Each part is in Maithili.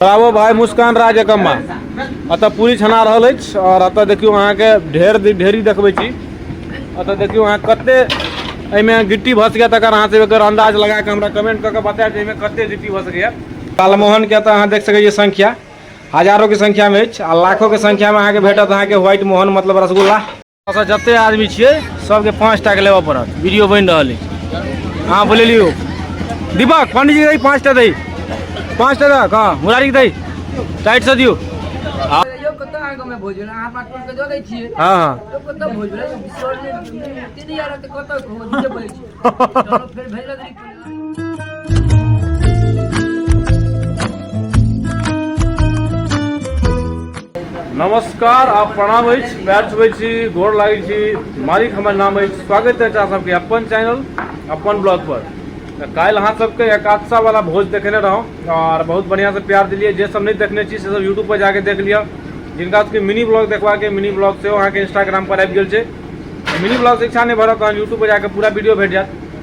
रावो भाई मुस्कान राज एकम्मा अतः पूरी छना रहल अछि और अतः देखियो अहाँ के ढेर ढेरी देखबे छी अतः देखियो अहाँ कते एहिमे गिट्टी भस गया तकर अहाँ से एकर अंदाज लगा के हमरा कमेंट करके बताया जे एहिमे कते गिट्टी भस गया कालमोहन के अतः अहाँ देख सकै छियै संख्या हजारों के संख्या में अछि आ लाखों के संख्या में अहाँ के भेटत अहाँ के व्हाइट मोहन मतलब रसगुल्ला अच्छा जते आदमी छियै सबके पाँच टाके लेबऽ पड़त वीडियो बनि रहल अछि अहाँ बोले लियौ दीपक पंडीजी दै पाँच टा दै पाँच टा दऽ कहाँ मुरारी दै टाइट से दियौ हाँ हाँ नमस्कार आप प्रणाम अछि बैठ हुए छी गोर लागै छी मालिक हमर नाम अछि स्वागत अछि अहाँ सबके अपन चैनल अपन ब्लॉग पर तऽ काल्हि अहाँ सबके एकादशा वाला भोज देखेने रहौं और बहुत बढ़िया से प्यार दिलिए जे सब नहीं देखने छी से सब यूट्यूब पर जाके देख लिअ जिनका सबके मिनी ब्लॉग देखबाक अइ मिनी ब्लॉग सेहो अहाँके इंस्टाग्राम पर आबि गेल छै मिनी ब्लॉग से इच्छा नहि भरत तहन यूट्यूब पर जाके पूरा वीडियो भेट जायत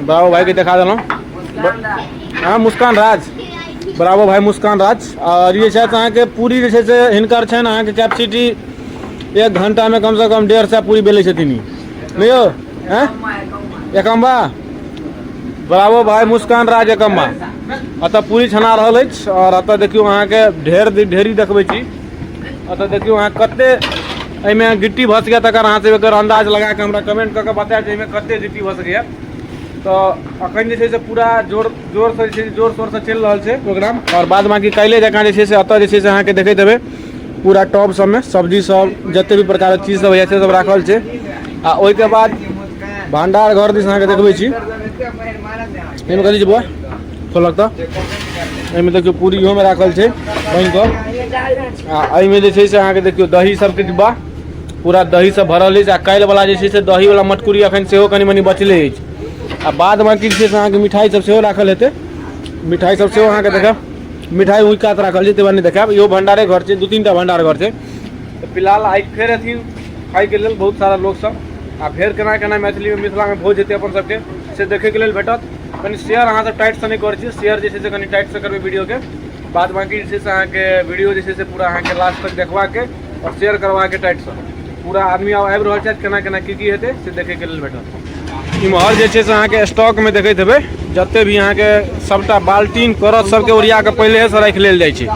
बराबर भाई के देखा दिलों हाँ मुस्कान राज बराबर भाई मुस्कान राज और ये शायद अहाँ के पूरी जैसे से हिनकर छन अहाँ के कैपेसिटी एक घंटा में कम से कम डेढ़ सौ पूरी बेले छथिन नहीं हो हैं एकम्बा बराबर भाई मुस्कान राज एकम्बा अतः पूरी छना रहल अछि और अतः देखियो अहाँ के ढेर ढेरी देखबे छी अतऽ देखियौ अहाँ कते एहिमे गिट्टी भऽ सकैए तकर अहाँ सब एकर अन्दाज लगा कऽ हमरा कमेंट कऽ कऽ बतायब जे एहिमे कते गिट्टी भऽ सकैए तऽ अखन जे छै से पूरा जोर जोरसँ जे छै जोर शोरसँ चलि रहल छै प्रोग्राम आओर बाद बाँकी काल्हि जकाँ जे छै से एतऽ जे छै से अहाँके देखैत हेबै पूरा टॉप सबमे सब्जी सब जते भी प्रकारक चीज सब होइए से सब राखल छै आ ओहिके बाद भंडार घर दिस अहाँके देखबै छी एहिमे कथी छै बौआ खोलक तऽ एहिमे देखियौ पूरी इहोमे राखल छै पानि कऽ आ एहिमे जे छै से अहाँके देखियौ दही सबके डिब्बा पूरा दही सब भरल अछि आ काल्हि वाला जे छै से दही वाला मटकुरी अखन सेहो कनि मनि बचले अछि आ बाद बाँकी जे छै से अहाँके मिठाइ सब सेहो राखल हेतै मिठाइ सब सेहो अहाँके देखायब मिठाइ ओहि कात राखल छै ताहि दुआरे नहि देखायब इहो भंडारे घर छै दू तीन टा भंडार घर छै तऽ फिलहाल आइ फेर अथी खाइके लेल बहुत सारा लोक सब आ फेर केना केना मैथिलीमे मिथिलामे भोज हेतै अपन सबके से देखैके लेल भेटत कनि शेयर अहाँसभ टाइटसँ नहि करै छियै शेयर जे छै से कनि टाइटसँ करबै वीडियोके बाद बाँकी जे छै से अहाँके वीडियो जे छै से पूरा अहाँके लास्ट तक देखबाके आओर शेयर करबाके टाइटसँ पूरा आदमी आब आबि रहल छथि केना केना की की हेतै से देखैके लेल भेटत इम्हर जे छै से अहाँके स्टॉकमे देखैत हेबै जतेक भी अहाँके सभटा बाल्टीन करत सभके ओरिया कऽ पहिलेहेसँ राखि लेल जाइ छै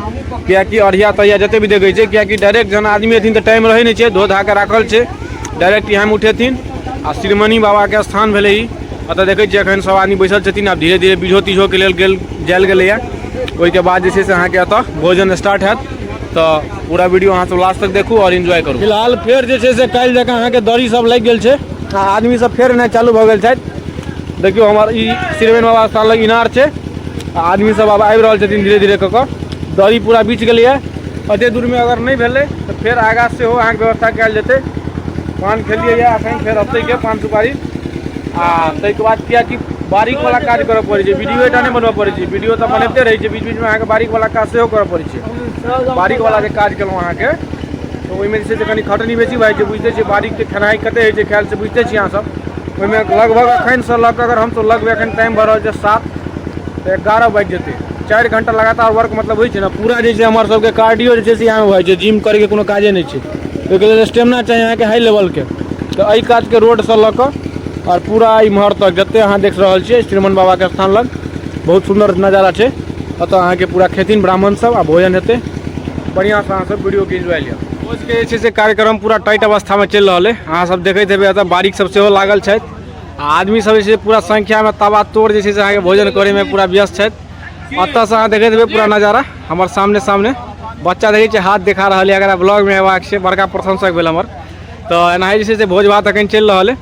किएकि अढ़िया तढ़िया जतेक भी देखै छै किएकि डायरेक्ट जहन आदमी एथिन तऽ टाइम रहै नहि छै धो धा कऽ राखल छै डायरेक्ट इएहमे उठेथिन आ श्रीमणि बाबाके स्थान भेलै ई एतऽ देखै छियै एखन सब आदमी बैसल छथिन आब धीरे धीरे बीझो तीझोके लेल गेल जायल गेलैए ओहिके बाद जे छै से अहाँके एतऽ भोजन स्टार्ट हैत तऽ पूरा वीडियो अहाँ सब लास्ट तक देखू आओर इन्जॉय करू फिलहाल फेर जे छै से काल्हि जकाँ अहाँके दड़ी सब लागि गेल छै आ आदमी सब फेर एनाइ चालू भऽ गेल छथि देखियौ हमर ई श्रीमणि बाबा स्थान लग इनार छै आ आदमी सब आब आबि रहल छथिन धीरे धीरे कऽ कऽ दड़ी पूरा बीछ गेलैए एते दूर में अगर नहीं भेले तो फिर आगा से हो अहाँ के व्यवस्था कल जेते पान खेलिए या अखन फिर अते के पान सुपारी आ तै के बाद किया कि बारीक वाला काज करऽ पड़े छै वीडियो एटा नहीं बनबऽ पड़े छै वीडियो तऽ बनते रहे छै बीच बीच में अहाँ के बारीक वाला काज सेहो करऽ पड़े छै बारीक वाला जे काज केलहुँ अहाँ के तो ओहिमे जे छै से कनि खटनी बेसी भए जाइ छै बुझिते छियै बारीक के खेनाइ कते होइ छै खायल से बुझिते छियै अहाँ सब ओहिमे लगभग अखन से लऽ कऽ अगर हम तो लगबै अखन टाइम भऽ रहल छै सात तऽ एगारह बाजि जेतै चारि घंटा लगातार वर्क मतलब होइ छै ने पूरा जे छै हमर सबके कार्डियो जे छै से यहाँ होइ छै जिम करैके कोनो काजे नहि छै ओहिके लेल स्टेमिना चाही अहाँके हाई लेवलके तऽ एहि काजके रोडसँ लऽ कऽ आओर पूरा इम्हर तक जते अहाँ देख रहल छियै श्रीमन बाबाके स्थान लग बहुत सुन्दर नजारा छै ओतऽ अहाँके पूरा खेथिन ब्राह्मण सब आ भोजन हेतै बढ़िआँसँ अहाँ सब वीडियोके इन्जॉय लिअ भोजके जे छै से कार्यक्रम पूरा टाइट अवस्थामे चलि रहल अइ अहाँ सब देखैत हेबै एतऽ बारीक सब सेहो लागल छथि आ आदमी सब जे छै पूरा संख्या में तबा तोड़ जे छै से अहाँके भोजन करे में पूरा व्यस्त छथि अतः से अहाँ देखैत हेबै पूरा नजारा हमर सामने सामने बच्चा देखै छै हाथ देखा रहल है अगर ब्लॉग में अयबाक छै बड़का प्रशंसक भेल हमर तो एना जे छै से भोज भात अखन चलि रहल है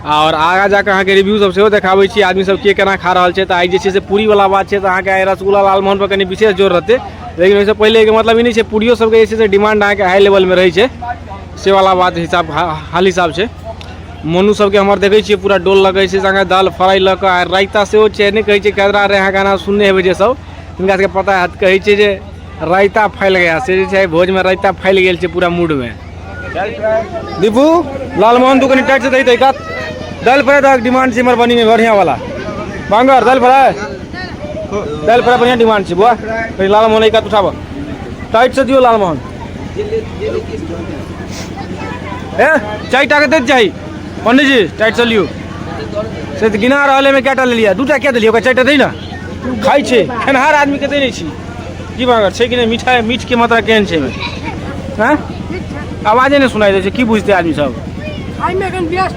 और आगा जाकर अहाँ के रिव्यू सब सेहो देखाबै छी आदमी सब के केना खा रहल छै तऽ आइ जे छै से पूरी वाला बात छै तऽ अहाँके आइ रसगुल्ला लालमोहन पर कनि विशेष जोर रहतै लेकिन ओहिसँ पहिले के मतलब ई नहि छै पूरियो सबके जे छै से डिमांड अहाँके हाई लेवल में रहै छै से वाला बात हिसाब हाल हिसाब छै मोनू सबके हमर देखै छियै पूरा डोल लगै छै संगे दाल फ्राई लऽ कऽ आर रायता सेहो छै नहि कहै छै कदरा रे अहाँ गाना सुनने हेबै जे सब तिनका सबके पता हैत कहै छै जे रायता फैल गया से जे छै भोजमे रायता फैल गेल छै पूरा मूडमे दीपू लालमोहन तू कनि टाइट से दही तरीका दालि फ्राई तक डिमांड छै हमर बनीमे बढ़िआँ वाला बांगर दालि फ्राई दालि फ्राई बढ़िआँ डिमांड छै बुआ कनि लालमोहन एक हाथ उठाबऽ टाइट से दियौ लालमोहन ए चारि टाके दैत चाही पंडीजी टाइट चलियौ से तऽ गिना रहल एहिमे कएटा लेलियै दू टा किया देलियै ओकरा चारि टा दै ने खाइ छै खेनहार आदमीके दै नहि छी की बात छै कि नहि मिठाइ मीठके मात्रा केहन छै एहिमे आँय आवाजे नहि सुनाइ दै छै की बुझतै आदमी सब खाइमे एखन व्यस्त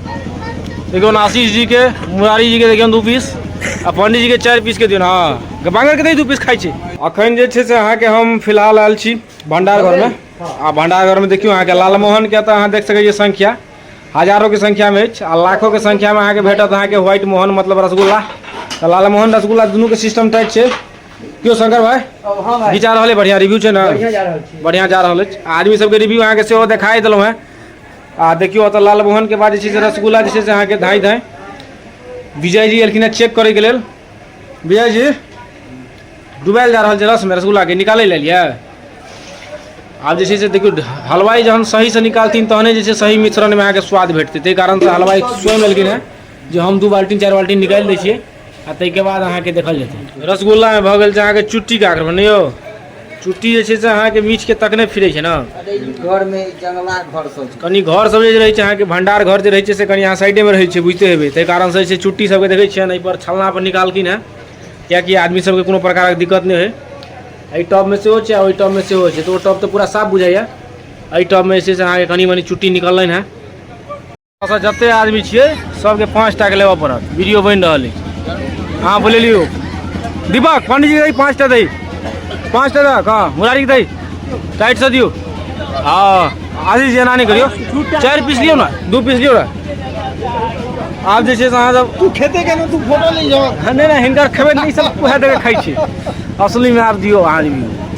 देखियौ आशीष जी के मुरारी जी के देखियौ दू पीस आ पंडित जी के चारि पीस के दियौ हँ बांगर के दू पीस खाइ छै अखन जे छै से अहाँके हम फिलहाल आयल छी भंडार घर में आ भंडार घर में देखियौ अहाँके लालमोहन के तऽ अहाँ देख सकै छियै संख्या हजारों के संख्या में अछि आ लाखों के संख्या में अहाँके भेटत अहाँके व्हाइट मोहन मतलब रसगुल्ला तऽ लालमोहन रसगुल्ला दुनू के सिस्टम टाइट छै क्यों शंकर भाई हाँ भाई घिचा रहा है बढ़िया रिव्यू है ना बढ़िया जा रहा है बढ़िया जा रहा है आदमी सबके रिव्यू अहाँ के सेहो देखाई दिलहुँ हैं आ देखियौ ओतऽ लालमोहन के बाद जे छै से रसगुल्ला जे छै से अहाँके धाँय धाँय विजय जी एलखिन चेक करैके लेल विजय जी डुबायल जा रहल छै रसमे रसगुल्लाके निकालै लए लियै आब जे छै से देखियौ हलवाइ जहन सहीसँ निकालथिन तहने जे छै सही मिश्रणमे अहाँके स्वाद भेटतै ताहि कारणसँ हलवाइ स्वयं एलखिन हेँ जे हम दू बाल्टी चारि बाल्टी निकालि दै छियै आ ताहिके बाद अहाँके देखल जेतै रसगुल्लामे भऽ गेल छै अहाँके चुट्टीके आग्रह नहि यौ चुट्टी जे छै से अहाँके मीठके तकने फिरै छै ने घरमे जंगला घर सब छै। कनि घर सब जे रहै छै अहाँके भंडार घर जे रहै छै से कनि अहाँ साइडेमे रहै छै बुझिते हेबै ताहि कारणसँ जे छै चुट्टी सबके देखै छियनि एहिपर छलनापर निकालखिन हेँ किएकि आदमी सबके कोनो प्रकारक दिक्कत नहि होइ एहि टबमे सेहो छै आ ओहि टबमे सेहो छै तऽ ओ टब तऽ पूरा साफ बुझाइए एहि टबमे जे छै से अहाँके कनि मनि चुट्टी निकललनि हेँ अच्छा जते आदमी छियै सबके पाँच टाके लेबऽ पड़त वीडियो बनि रहल अछि अहाँ बोले लियौ दीपक पंडीजी दै पाँच टा दै पाँच टा दऽ कहाँ मुरारी दै टाइट से दियौ हँ आशीष एना नहि करियौ चारि पीस लियौ ने दू पीस लियौ ने आब जे छै से अहाँ सब तू खेते केना तू फोटो ले जाओ नहि नहि हिनकर खेबै नहि सब उएह दऽ कऽ खाइ छी असलीमे आब दियौ अहाँ रिव्यू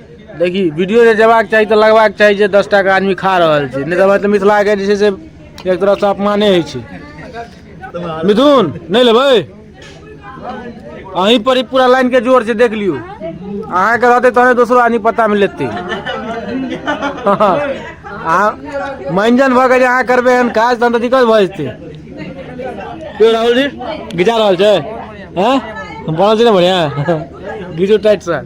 देखी वीडियो जे जेबाक चाही तऽ लगबाक चाही जे दस टाके आदमी खा रहल छै नहि तऽ मिथिलाके जे छै से एक तरहसँ अपमाने होइ छै मिथुन नहि लेबै अहीं पर ई पूरा लाइन के जोर छै देख लियौ अहाँके रहतै तहने दोसरो आदमी पता मे लेतै अहाँ मंजन भऽ के जे अहाँ करबै एहन काज तहन तऽ दिक्कत भऽ जेतै यो राहुल जी घिचा रहल छै हैं बनल छै ने बढ़िया घिचो टाइट सर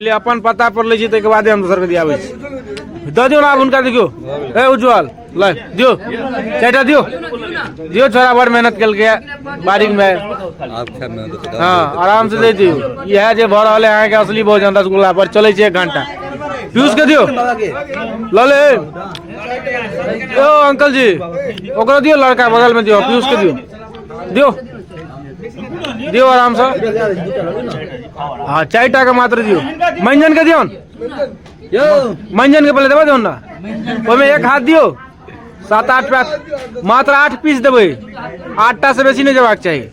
पहिले अपन पता पर लै छी ताहिके बादे हम दोसरके दियाबै छी दऽ दियौ ने आब हुनका देखियौ ए उज्जवल ल दियौ चारिटा दियौ दियौ छोरा बड़ मेहनत केलकै बारीकमे हँ आरामसँ दै दियौ इएह जे भऽ रहल है अहाँके असली भोजन रसगुल्ला पर चलै छै एक घंटा पीयूषके दियौ लऽ ले ओ अंकल जी ओकरो दियौ लड़का बगलमे दियौ पीयूषके दियौ दियो दियो आराम से हाँ चार टा के मात्र दियो मंजन के दियो मंजन के पहले देवे दियो ना ओहिमे एक हाथ दियो सात आठ पैस मात्र आठ पीस देवे आठ टा से बेसी नहीं जबाक चाहिए